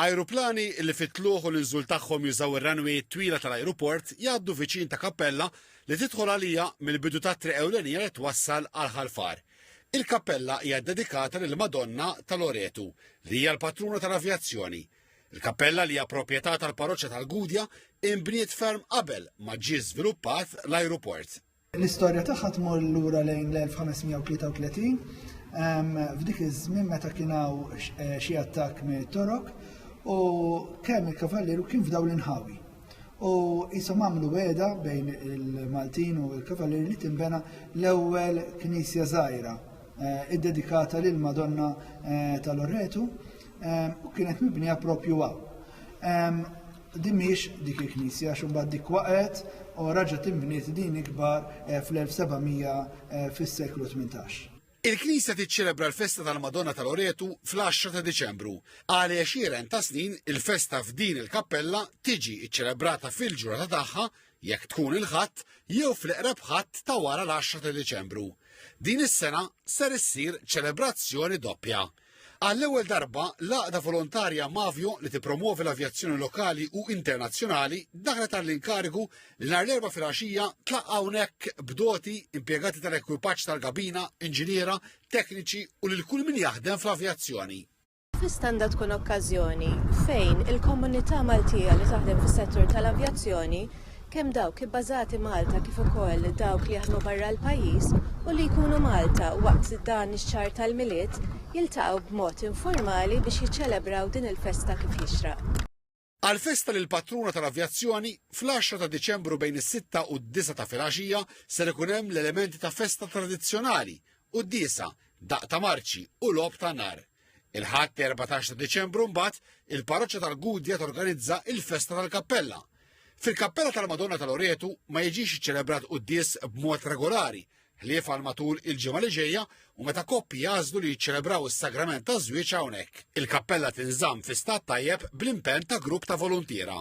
Ajruplani li fit-tlugħ u l-inżul tagħhom jużaw ir-runway twila tal-ajruport jgħaddu viċin ta' kappella li tidħol għalija mill-bidu tat-triq ewlenija li twassal għal Ħal Far. Il-kappella hija ddedikata lill-Madonna ta' Loretu, li hija l-patruna tal-avjazzjoni. Il-kappella li hija proprjetà tal-parroċċa tal-Gudja inbniet ferm qabel ma ġie żviluppat l-ajruport. L-istorja tagħha tmur lura lejn l-1533 f'dik iż-żmien meta kien hawn eh, xi attakk minn Torok u kemm il-kavalleru kien f'daw l-inħawi. U jisom għamlu weda bejn il-Maltin u l-kavalleru li timbena l-ewwel knisja żgħira eh, iddedikata lil Madonna eh, tal-Orretu u kienet mibnija propju għaw. Din mhix dik il-knisja għax imbagħad dik waqgħet u raġa' tinbniet din ikbar eh, fl-1700 eh, fis-seklu 18. Il-Knisja tiċċelebra l-festa tal-Madonna tal-Oretu fl-10 ta' Diċembru. Għal għexieren ta' snin, il-festa f'din il-kappella tiġi ċċelebrata fil-ġurnata tagħha jekk tkun il-ħadd jew fl-eqreb ħadd ta' wara l-10 ta' Diċembru. Din is-sena ser issir ċelebrazzjoni doppja. Għall-ewwel darba, l-għaqda volontarja Mavio li tippromwovi l-avjazzjoni lokali u internazzjonali daħlet għall-inkarigu li nhar l-Erbgħa filgħaxija tlaqqa' hawnhekk b'doti, impjegati tal-ekwipaġġ tal-kabina, inġiniera, tekniċi u lil kull min jaħdem fl-avjazzjoni. Spiss għandha tkun okkażjoni fejn il-komunità Maltija li taħdem fis-settur tal-avjazzjoni kemm dawk ibbażati Malta kif ukoll dawk li jaħdmu barra l-pajjiż u li jkunu Malta waqt dan ix-xahar tal-Milied jiltaqgħu b'mod informali biex jiċċelebraw din il-festa kif jixraq. Għall-festa lill-patruna tal-avjazzjoni, fl-għaxra ta' Diċembru bejn is-sitta u d-disgħa ta' filgħaxija ser ikun hemm l-elementi ta' festa tradizzjonali, quddiesa, daqq ta' marċi u logħob ta' nar. Il-Ħadd 14 ta' Diċembru mbagħad il-parroċċa tal-Gudja torganizza il-festa tal-kappella. Fil-kappella tal-Madonna tal-Oretu ma jiġix iċċelebrat quddies b'mod regolari, ħlief għal matul il-ġimgħa li ġejja u meta koppi jażlu li jiċċelebraw is-sagrament ta' żwieġ hawnhekk. Il-kappella tinżamm fi stat tajjeb bl-impenn ta' grupp ta' voluntiera.